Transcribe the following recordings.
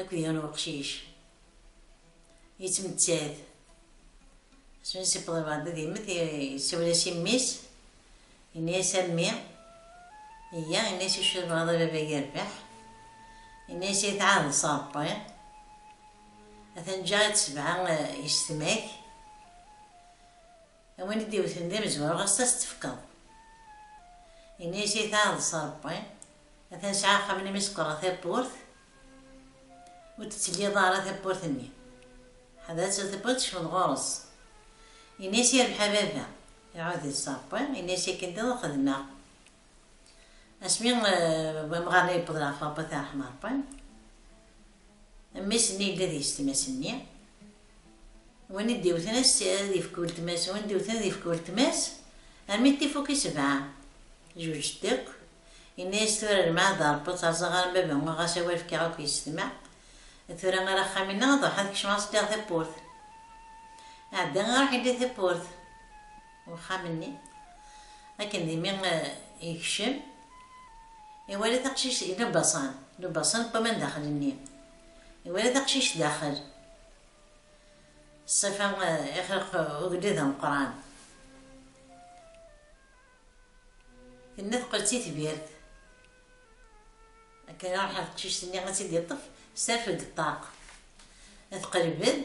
Akked yiwen n weqcic yettmettat smi yewweḍ ɣer beɛd ad yemmet yessawel-as i mmi-s yenna-as a mmi yya yenna-as acu tebɣiḍ a baba yerbeḥ yenna-as ay tɛahdeḍ s Ṛebbi atan ǧǧiɣ-itt sebɛa yessetma-k A win i d-iwten d imezwura ɣas ad as-tefkeḍ. Ini-as i taɛḍ s Ṛebbi, atan sɛiɣ axxam n imi sekkṛeɣ tawwurt, ur d-ttelliḍ ara tawwurt-nni. Ḥader ad tili tawwurt tekcmeḍ ɣur-s. Ini-as yerbeḥ a baba. Iɛud-it s Ṛebbi, ini-as akken diḍ ad xedmeɣ. Asmi wamɣar-nni yewweḍ ɣef Abat Aḥmerṭen, mmi-s-nni yella deg-s tmas-nni, win i d-iwten ad yefk weltma-s, win i d-iwten ad yefk weltma-s, armi d tifuk i sebɛa. Jujjet akk, yenna-yas tura lmeɛd a Rebbi ad terẓeɣ ɣer baba, ɣas awal fkiɣ akk yessetma, tura ar axxam-inna ad ruḥeɣ ad kecmeɣ ad s-ddiɣ tawwurt. Ɛeddi iruḥ yelli tawwurt, uxxam-nni, akken dimi yekcem, iwala taqcict n ubaṣan, n ubaṣan n waman daxel-nni, iwala taqcict daxel, ṣṣifa ixleq ugellid ameqqran, tenna teqqel d titbirt, akken iruḥ ɣer teqcict-nni ad tt-id-iṭṭef, tesserfed deg ṭṭaq, teqleb-d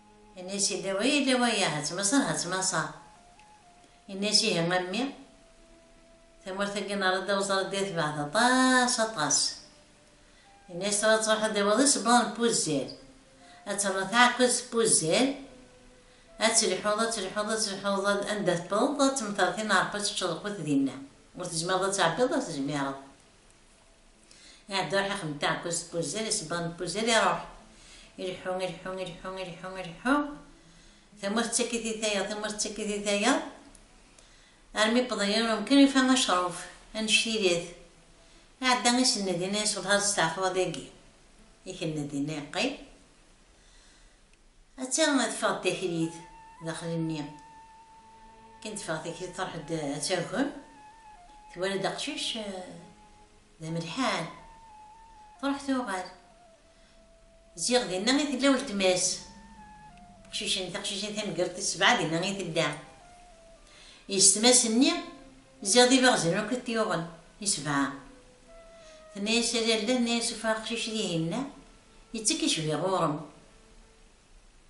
Inna-yas yella wa yella wa ya ha ttmaṣer ha ttmaṣer. Inna-yas ihi a mmi tamurt-agi nerra-d awẓar ad d-yatbeɛ d aṭas aṭas. Inna-yas tura ad truḥeḍ ad d-tawiḍ isebbaḍen n Puzzir, ad ternuḍ taɛekkurt s Puzzir, ad telḥuḍ ad telḥuḍ ad telḥuḍ anda tewwḍeḍ ad temteṛ tin n Ṛebbi ad teččeḍ lqut dinna, ur tezmireḍ ad tɛebbiḍ ur tezmireḍ. Iɛedda iruḥ ixdem taɛekkazt n wuzzal, isebbaḍen n wuzzal iruḥ. Ileḥḥu, ileḥḥu, ileḥḥu, ileḥḥu, ileḥḥu, tamurt tettak-it i tayeḍ, tamurt tettak-it i tayeḍ, armi yewweḍ yiwen umkan yufa acruf, annect-ilit. Iɛedda isenned ini, yesselhaẓ steɛfu ad igi. Ikenned ini, yeqqim. Atta ad ffeɣ takrit daxel-nni. Akken teffeɣ takrit truḥ-d ad tagem, twala-d aqcic d amelḥan. Truḥ tuɣal. Ziɣ dinna i tella weltma-s. Aqcic-nni, taqcict-nni tameggurt tis sebɛa dinna i tella. Yessetma-s-nni ziɣ d ibaɣzen akk i t-yuɣen, i sebɛa. Tenna-yas a lalla, tenna-yas ufiɣ aqcic dihinna, Yettekk icbi ɣur-m.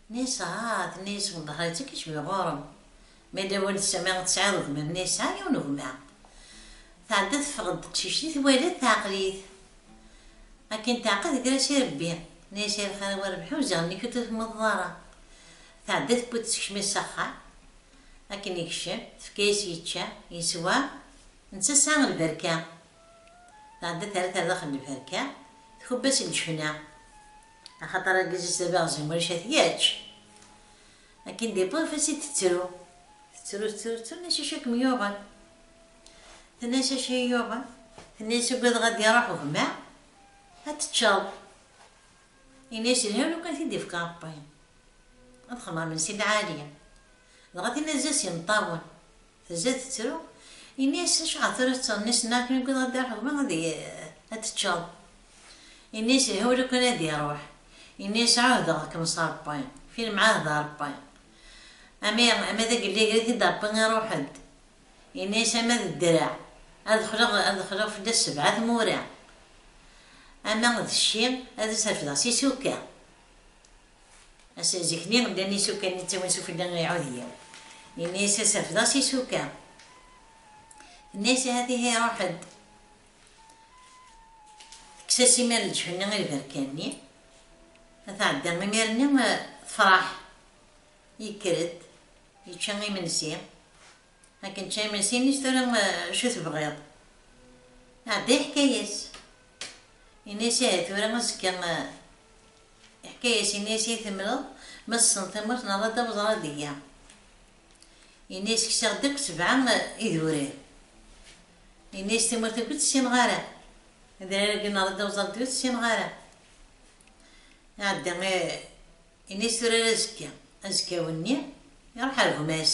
Nesɛa, tenna-yas Wenḍehra, yettekk icbi ɣur-m. Ma yella win tesɛa, tesɛiḍ gma-m, nesɛa yiwen n gma. Tɛedda teffeɣ-d teqcict i twala teɛqel-it. Akken teɛqel teggra-as i Rebbi, tenna-yas ay lxir a wi Rebḥi uziɣ nnek ur t-temmḍeḍ ara. Tɛedda tewwi-t tessekcem-it s axxam. Akken yekcem, tefka-yas yečča, yeswa, netta tesɛa lberka. tɛedda terra-t ar daxel n lferka, tkubb-as i leǧfna, axaṭer argaz-is d abiɣzim ulac ad t-yačč. Akken d-iṭṭef ad t-id-tettru, tettru tettru tettru, tenna-as acu i kem-yuɣen? Tenna-as acu i iyi-yuɣen? Tenna-as ugadeɣ ad d-iruḥ ugma ad teččeḍ. Yenna-as yelha lukan t-id-ifka Ṛebbi, ad xemṛemen si lɛali. Dɣa tenna-as d ass imeṭṭawen, Tezza tettru, yenna-yas, Acuɣer tura tettɣenniseḍ mi ara ken-iwwiḍ Ṛebbi ɣer lɣerba ad ad teččeḍ? Yenna-yas, Ihi ur iqin ad iṛuḥ. Yenna-yas, Ɛuhdeɣ-kem s Ṛebbi, fi lemɛahda Ṛebbi, ama ama d agelli ager-it-id Ṛebbi iṛuḥ-d. Yenna-yas, Ama d ddreɛ ad xleɣ ad xleɣ fell-as sebɛa tmura, ama d cci ad as-refdeɣ s isukka. Zik-nni llan isuka-nni ttawin s ufella i Ɛudyaw. Yenna-yas asafed-as isuka. Tenna-yas ahat ihi ruḥ-d. Tekkes-as imir leǧef-nni i lberka-nni. Ma tɛedda imir-nni tefreḥ. Yekker-d, yečča imensi. Akken čča imensi yenna-yas tura acu tebɣiḍ? Iɛedda yeḥka-yas. Yenna-yas ihi tura azekka Iḥka-yas, yenna-yas, I temleḍ, ma tessen tamurt neɣ d adda weẓra deg-i. Yenna-yas, kkseɣ-d akk sebɛa idurar. Yenna-yas, tamurt akk ur tt-ssineɣ ara. Adrar agi neɣ d adda weẓra deg-i ur tt-ssineɣ ara. Iɛedda, yenna-yas, tura ara azekka. Azekka-w-nni, iruḥ ar gma-s.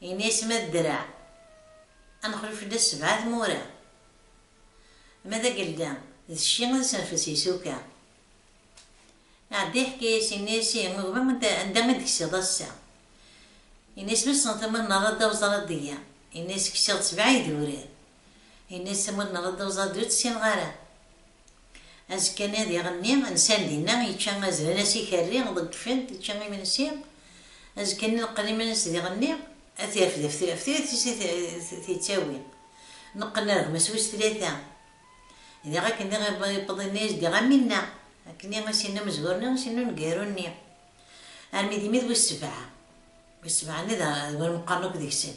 Ini-as ma d ddreɛ ad nexlu fell-as sebɛa tmura, ma d agelda d cci ad senfes isuka. Iɛedda yeḥka-as, ini-as ihi gma anda i d-ksiḍ ass-a? Ini-as wissen tama nerra-d awẓar ad d-yya, ini-as ksiɣ-d sebɛa idurar. Ini-as am win nɣed uẓadu ur tt-ssineɣ ara. Azekka-nni ad iɣenni, nsan dinna, yečča azren as ikerri, ḍeggfen-t, yečča imensi. Azekka-nni neqqen iman-is d iɣenni, ad t-irfed ɣef trirt-is i t-yettawi. Neqqen ar gma-s wis tlata. Diɣ akken diɣ iwweḍ-ini i s-d-iɣ am winna, akken i as-yenna umezgur-nni, i as-yenna uneggaru-nni. Armi d imi d wis sebɛa. Wis sebɛa-nni d win meqqren akk deg-sen.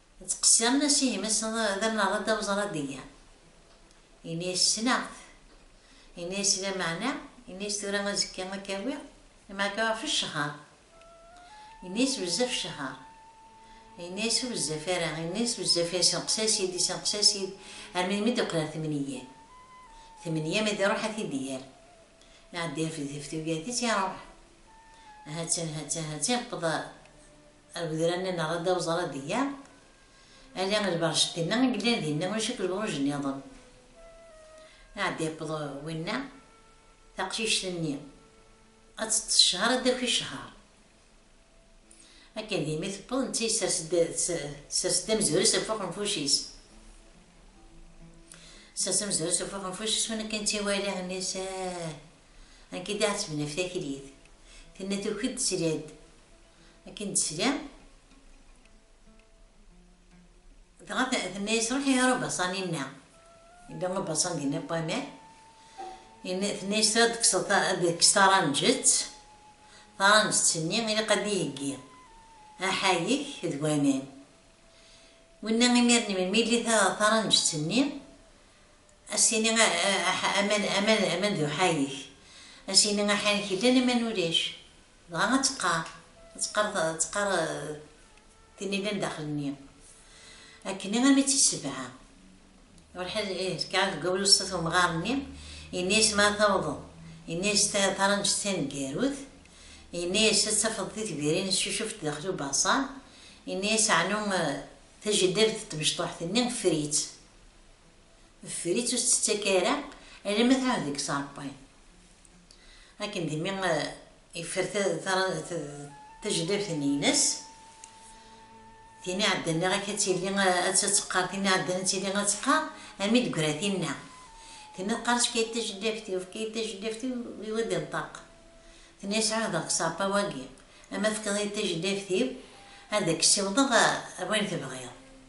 Ttqessiren-as i gma-s d amnaḍ-a Dda Weẓra Degga. Yenna-yas ssneɣ-t. Yenna-yas lameɛna, yenna-yas tura azekka ad k-awiɣ, lameɛna ɣef ccehher. Yenna-yas bezzaf ccehher. Yenna-yas ur bezzaf ara, yenna-yas bezzaf yessenqes-as-id, yessenqes-as-id, armi d mi d-yeqqel ɣer tmenyya. Tmenyya mi d-iruḥ ad t-id-yerr. Iɛedda yerfed tif tugati-s, iruḥ. Ha-tt-an, ha-tt-an, ha-tt-an, yeqqeḍ Agedran-nneɣ ad awẓar ad iyya, ala lberjet-nneɣ i yellan dinna ulac akk lebruj nniḍen. Aɛeddi yewweḍ winna, taqcict-nni ad teṭṭes ccher ad d-taki ccher. Akken dimi tewweḍ netta yessers-d amezruy-is ɣef uxenfuc-is. Sers amezruy-is ɣef uxenfuc-is win akken tt-iwala nnisan, amek i d-ɛettben ɣef taklit, tenna tuki-d tesla-d akken d-tesli dɣa tenna-yas ruḥ i Rubasan-inna yella Rubasan dinna n waman tenna-yas tura ad kkseḍ ad kkes taranǧet taranǧet-nni ilaq ad iheggi aḥayek d waman winna imir-nni melmi yelli taranǧet-nni as-tini aman aman aman d uḥayek as-yini aḥayek yellan aman ulac Dɣa ad teqqar, ad teqqar, ad teqqar tin yellan daxel-nni, Akken i ɣabi tt-issebɛa. Lḥaǧ ih, tekɛa deg wawal uṣṣat umɣar-nni, yenna-yas ma ad tawḍeḍ, yenna-yas taranǧet taneggarut, yenna-yas ad tafeḍ titbirin tcucufent daxel ubaṣar, yenna-yas ɛnu tajellabt n tmecṭuḥt-nni ffer-itt, ffer-itt ur tt-ttak ara alamma tɛud deg-s arebbaḍ. Akken dimi yeffer tajlabt-nni-ines, tin iɛeddan niɣ-ak ad tili ad tt-teqqar, tin iɛeddan ad tili ad teqqar, armi d-greɣ tinna. Tinna teqqar efk-iyi-d tajlabt-iw, efk-iyi-d tajlabt-iw, ad d-inṭeq. Tenna-yas ɛuhdeɣ deg Ṣapa-wagi, ama tefkeḍ-iyi-d tajlabt-iw, ad ak-ssiwḍeɣ ar wayen tebɣiḍ.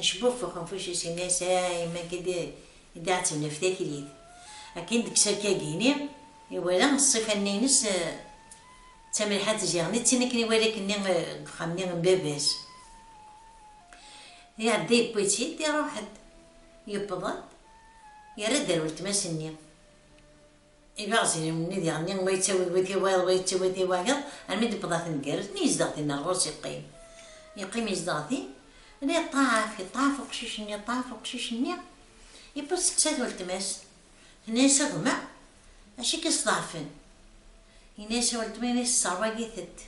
Acbufex n fucus ines a yemma akka d i d-iɛettbnef taklit. Akken deg serkagini iwala ṣṣifa-nni ines d tamelḥant ziɣen d tin akken iwala akkenni deg uxxam-nni n baba-s. Iɛedda yewwi-tt-id iruḥ-d. Yewweḍ-d yerra-d ar weltma-s-nni. Ibeɛziyen-nni d iɣenni, wa yettawi-d wi ti wayeḍ, wa yettawi ti wayeḍ, almi d-tewweḍ at Ngerrez, mi yezdeɣ din rrus yeqqim. Yeqqim yezdeɣ din, la yeṭṭaf, yeṭṭaf uqcic-nni, yeṭṭaf uqcic-nni, yewweḍ yesteqsa-t weltma-s, tenna-yas a gma, acu i k-yesḍeɛfen? Yenna-yas weltma ini tesserwag-itent,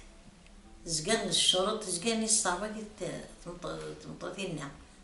tezga tmescureḍ, tezga ini tesserwag-it tmeṭṭut-inna,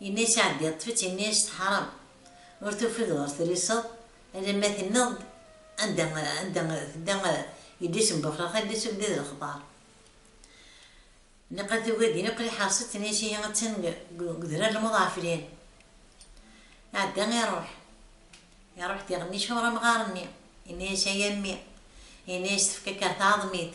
Yenna i Sɛeddi, yeṭṭef-itt ini-as teḥṛam, ur tufid ɣer triseḍ, alamma tenniḍ-d anda anda tedda yelli-s n Buxlax, yelli-s ur yelli d lexbaṛ. Niqal tugi ad yini aql-i ḥeṛṣeɣ-tt, tenna-as ihi attan deg udrar n Muḍɛeflin. Iɛedda iṛuḥ, iṛuḥ diɣen icuṛ amɣar-nni, yenna-as ay a mmi, yenna-as tefka-k ɣer tɛeḍmit,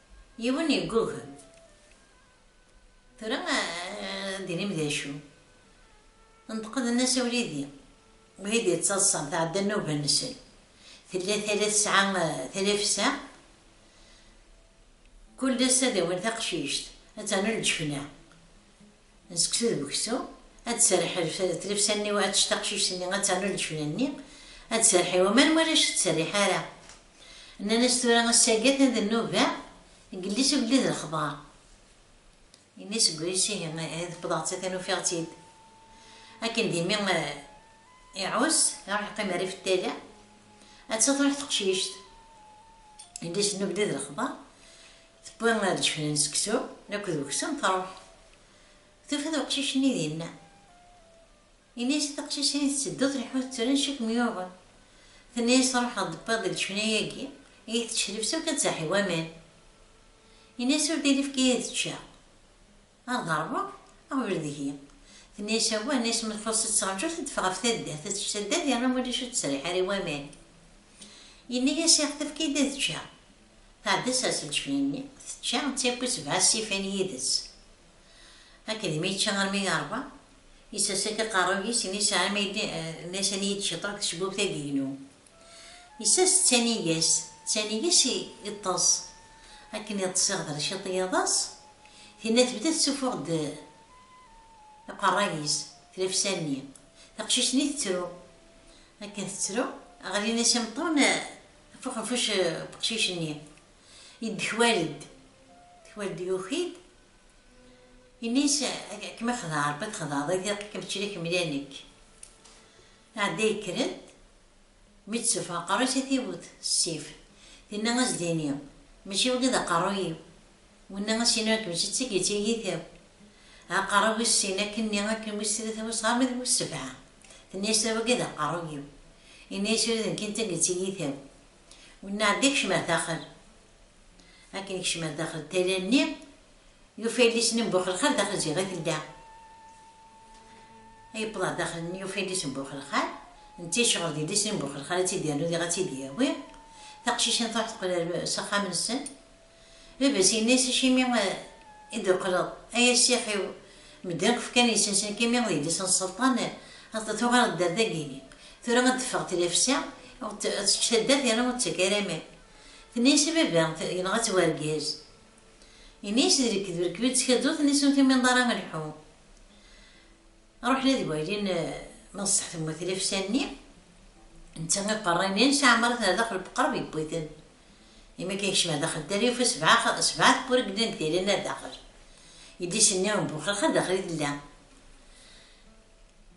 Yiwen yeggug. Tura ad d-tinim d acu? Neṭqen-as a Wlidi. Wlidi yettaḍsan, tɛedda nnuba-nsen. Tella tala tesɛa talafsa, kul ass ad awin taqcict, ad ternu leǧfna. n seksu d uksum, ad d-tserreḥ tlefsa-nni u ad tečč taqcict-nni, ad ternu leǧefna-nni, ad d-tserreḥ i waman, wala acu d-tserriḥ ara. Nnan-as tura ass-agi atan d nnuba, gelles agellid n lexbar. Yenna seg wayes ihi, ihi tewwḍeɣ-tt atan ufiɣ-tt-id. Akken d imi iɛus, iruḥ iqqim rrif n tala, atta truḥ teqcict. Gelles n ubdid n lexbar, Tewwi ad d-keflen seksu, nekk d uksum truḥ. Tufa-d uqcic-nni dinna. Yenna-as i teqcicin tetteddu tleḥḥu tettren cwi kem-yuɣen. Tenna-as ruḥeɣ d-wwiɣ deg leǧfina-agi iyi teţcellef s ukeţaḥ i waman. Yenna-as ur d-ilifk iyi ad ččeɣ. Ad ḍerbeɣ, ɣbel deg-i. Tenna-yas awah, nna-yas ma txuṣ-itt ţerǧu teddef ɣef taddart, ad tečč taddart yerna ulac ur ţeţriḥ ara i waman. Yenna-yas iɣ tefka-yi-d ad ččeɣ. Tɛedda-ţ ar tleǧfya-nni, tečča, d tawwurt sebɛa ssifan yid-ţ. Akked mi yečča armi yerba, yessers-ak aqerruy-is, yenna-yas ɛama yelli, nna-yas ad iyi-d-ciṭeɣ deg tecbubt-agi-inu. Isas d taniga-s, d taniga-s i iṭṭeṣ. Akken iṭṭeṣ iɣder ciṭ yiḍes, tinna tebda tettuffuɣ-d iqerray-is, tlafsa-nni. Taqcict-nni tettru. Akken tettru, ɣlin-as imeṭṭawen ɣef uxenfuc n uqcic-nni. Yeddekwal-d, yeddekwal-d yuki-d, yenna-as, Ad kem-ixdeɛ Rebbi ad txedɛeḍ i di, aql-ikem tečča-k mliha nekk. Tɛedda yekker-d, mi tt-tuf aqerru-is a t-iwwet s ssif, tenna a s-d-tini, Mačči wagi d aqerru-iw, winna a s-iniɣ akken mačči d tagi d tiyita-w. Aqerru wis sin, akken-nni, akken wis tlata, wis ɣer ma d wis sebɛa. Tenna-yas tala wagi d aqerru-iw. Yenna-yas ula d nekki d tagi d tiyita-w. Winna ɛedda kcem ar daxel. Akken yekcem ar daxel n tala-nni, Yufa ilisen n Buxelxal daxel ziɣ i tella. Yewweḍ ɣer daxel-nni yufa ilisen n Buxelxal, netta yecɣel d ilisen n Buxelxal ad tt-id-yernu diɣ ad tt-id-yawi. Taqcicin truḥ teqqel ar s axxam-nsen. Baba-s yenna-as acimi i d-teqqleḍ ay a ssix-iw, medden akk fkan iles-nsen akka imi d yelli-s n Sselṭan, tuɣaleḍ dder dagi, tura ad d-teffeɣ tlafsa ad tečč taddart yerna ur d-tettak ara aman. Tenna-as a baba yenɣa-tt wergaz. Ini-as d lekdeb, rkeb-id tkadut nni-s ur tumineḍ ara a lḥu. Ruḥ la deg waylin ma d ṣṣeḥ temmut lefsa-nni, netta iqerra ini-a nesɛa amras ar daxel beqreb yewwi-ten. Imi akka yekcem ar daxel dder yufa sebɛa sebɛa tewwura yellan deg tayla-nni ar daxel. Yelli-s-nni n Buxelx ar daxel i tella.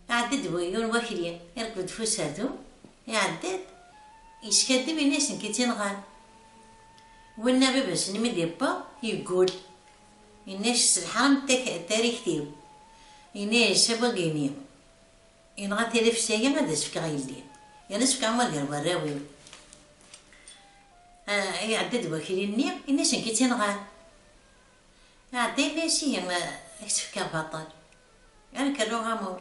Iɛedda-d yiwen wakli, irkeb-d f userdun, iɛedda-d, yeskadeb ini-as nekk i tt-inɣan. Winna baba-s n mi d-iwweḍ, yeggul, yenna-yas tesselḥaram tarikt-iw, yenna-yas a bu Agini, yenɣa tirifsa-yi ad as-fkeɣ yelli, yerna ad s-fkeɣ ma gar warraw-iw. Iɛedda-d wakli-nni, yenna-yas nekk i tt-inɣan. Iɛedda yenna-yas ihi a k-tt-fkeɣ baṭel, a nekk rnuɣ amur,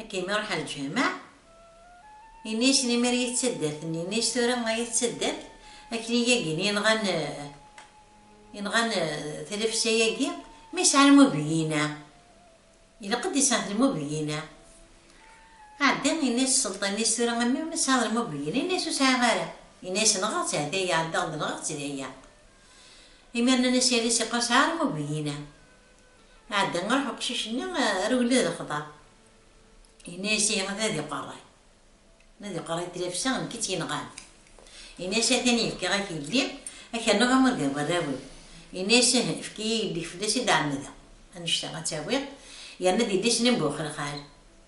Akken mi ruḥen lǧameɛ, yenna-yasen imir i taddart nni, yenna-yas tura ay at taddart akken i yagin yenɣan yenɣan tlefsa-yagi ma yesɛa lmubeyina, ilaq ad d-isɛet lmubeyina. Ɛeddi yenna-yas sselṭan nni-s tura a mmi ma tesɛiḍ lmubeyina, yenna-yas ur sɛiɣ ara, yenna-yas nɣeɣ-tt ah dayya ɛeddaɣ-d nɣeɣ-tt dayya. Imir nnan-as yal-as iqar sɛiɣ lmubeyina. Iɛedda ɣer uqcic-nni, rewlen d xḍer. Yenna-as, Ihi ad iqerray. Ma ad iqerray tlafsa, nekk i tt-yenɣan. Yenna-as, Atan yefka-ak yelli, ad k-rnuɣ am wagga n warraw-iw. Yenna-as, Ih, efk-iyi yelli-k fell-as i d-ɛemmedeɣ. Annect-a ad tt-awiɣ, yerna d yelli-s n Mbuxelxal.